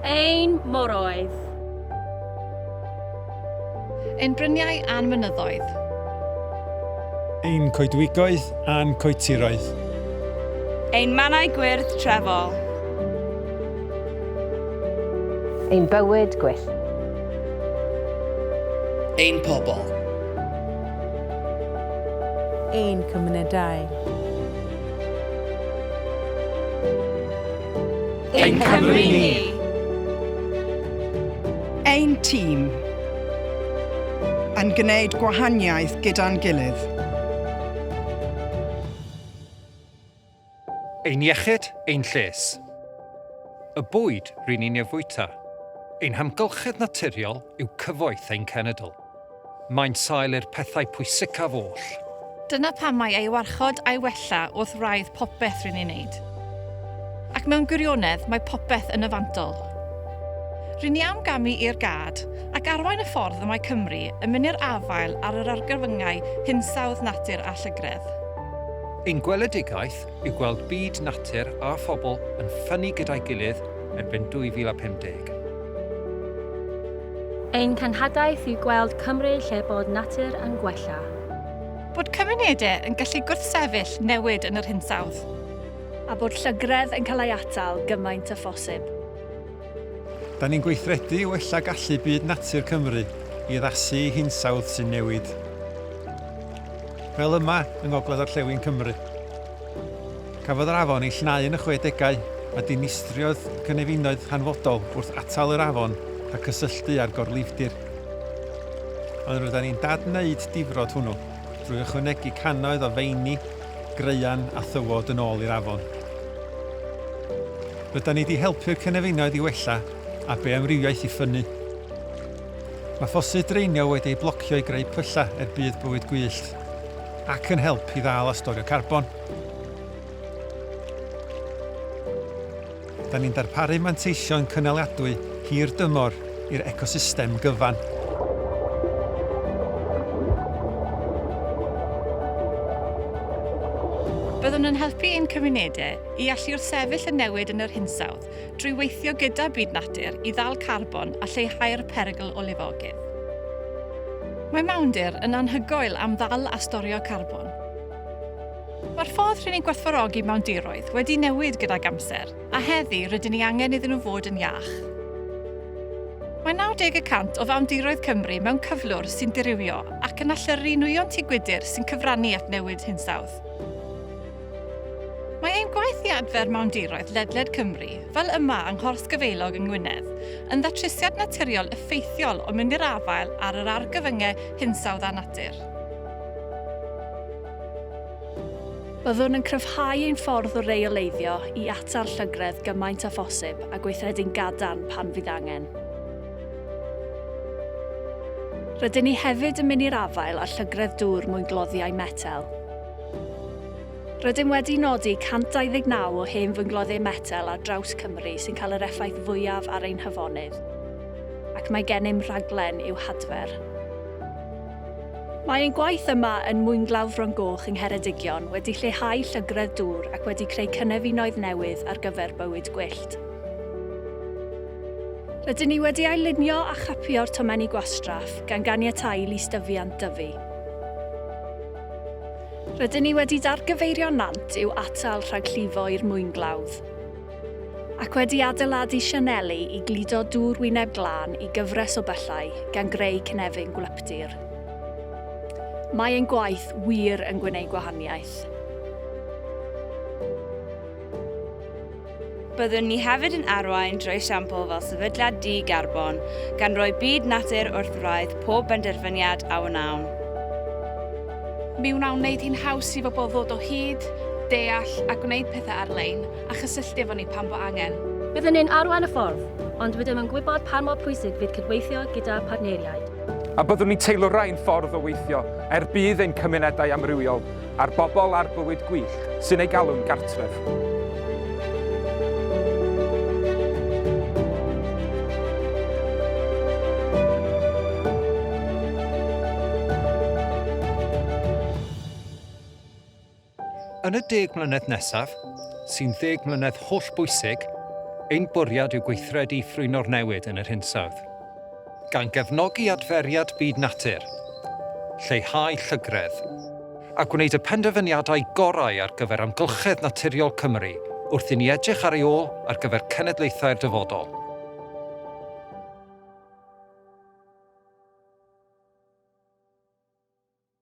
Ein moroedd. Ein bryniau a'n mynyddoedd. Ein coedwigoedd a'n coetiroedd. Ein mannau gwyrdd trefol. Ein bywyd gwyllt. Ein pobl. ein cymunedau. Ein Cymru ni! Ein tîm yn gwneud gwahaniaeth gyda'n gilydd. Ein iechyd, ein lles. Y bwyd ry'n ni'n ei fwyta. Ein hamgylchedd naturiol yw cyfoeth ein cenedl. Mae'n sail i'r pethau pwysicaf oll. Dyna pam mae ei warchod a'i wella wrth wraidd popeth ry'n ni'n wneud. Ac mewn gwirionedd, mae popeth yn y fantol. Ry'n ni am gamu i'r gad, ac arwain y ffordd y mae Cymru yn mynd i'r afael ar yr argyfyngau hinsawdd natur a llygredd. Ein gweledigaeth yw gweld byd natur a phobl yn ffynnu gyda'i gilydd erbyn 2050. Ein cenhadaeth yw gweld Cymru lle bod natur yn gwella. Bod cymunedau yn gallu gwrthsefyll newid yn yr hinsawdd. A bod llygredd yn cael ei atal gymaint â phosib. Da ni'n gweithredu i wella gallu byd natur Cymru i addasu i hinsawdd sy'n newid. fel yma yng ngogledd-orllewin Cymru. Cafodd yr afon ei llenau yn y chwedegau a dinistriodd cynefinoedd hanfodol wrth atal yr afon rhag cysylltu â'r gorlifdir. Ond roedden ni'n dad-wneud difrod hwnnw drwy ychwanegu cannoedd o feini, graean a thywod yn ôl i'r afon. Rydan ni 'di helpu'r cynefinoedd i wella a beamrywiaeth i ffynnu. Mae ffosydd draenio wedi eu blocio i greu pyllau er budd bywyd gwyllt ac yn help i ddal a storio carbon. Da ni'n darparu manteision cynaliadwy hir dymor i'r ecosystem gyfan. Byddwn yn helpu ein cymunedau i allu wrthsefyll y newid yn yr hinsawdd. drwy weithio gyda byd natur i ddal carbon a lleihau'r perygl o lifogydd. Mae mawndir yn anhygoel am ddal a storio carbon. Mae'r ffordd rŷn ni'n gwerthfawrogi mawndiroedd wedi newid gydag amser, a heddi rydyn ni angen iddyn nhw fod yn iach. Mae 90 y cant o fawndiroedd Cymru mewn cyflwr sy'n dirywio ac yn allyrru nwyon tŷ gwydr sy'n cyfrannu at newid hinsawdd. Mae ein gwaith i adfer mawndiroedd ledled Cymru, fel yma yng Nghors Gafaelog yng Ngwynedd, yn ddatrysiad naturiol effeithiol o mynd i'r afael ar yr argyfyngau hinsawdd a natur. Byddwn yn cryfhau ein ffordd o reoleiddio i atal llygredd gymaint â phosib a gweithredu'n gadarn pan fydd angen. Rydyn ni hefyd yn mynd i'r afael â llygredd dŵr mwyngloddiau metel. Rydym wedi nodi 129 o hen fyngloddiau metel ar draws Cymru sy'n cael yr effaith fwyaf ar ein hafonydd, ac mae gennym rhaglen i'w hadfer. Mae ein gwaith yma yn Mwynglawdd Fron Goch yng Ngheredigion wedi lleihau llygredd dŵr ac wedi creu cynefinoedd newydd ar gyfer bywyd gwyllt. Rydyn ni wedi ail-lunio a chapio'r tomenni gwastraff, gan ganiatáu i lystyfiant dyfu. Rydyn ni wedi dargyfeirio nant i'w atal rhag llifo i'r mwynglawdd, ac wedi adeiladu sianeli i gludo dŵr wyneb glân i gyfres o byllau, gan greu cynefin gwlyptir. Mae ein gwaith wir yn gwneud gwahaniaeth. Byddwn ni hefyd yn arwain drwy esiampl fel sefydliad di-garbon, gan roi byd natur wrth wraidd pob benderfyniad a wnawn. Mi wnawn wneud hi'n haws i bobl ddod o hyd, deall a gwneud pethau ar-lein, a chysylltu efo ni pan fo angen. Byddwn ni'n arwain y ffordd, ond rydym yn gwybod pan mor pwysig fydd cydweithio gyda phartneriaid. A byddwn ni'n teilwra ein ffordd o weithio, er budd ein cymunedau amrywiol, A'r bobl a'r bywyd gwych sy'n ei galw'n gartref. Yn y deg mlynedd nesaf, sy'n ddeg mlynedd holl bwysig, ein bwriad yw gweithredu i ffrwyno'r newid yn yr hinsawdd. Gan gefnogi adferiad byd natur, lleihau llygredd. A gwneud y penderfyniadau gorau ar gyfer amgylchedd naturiol Cymru wrth i ni edrych ar ei ôl ar gyfer cenedlaethau'r dyfodol.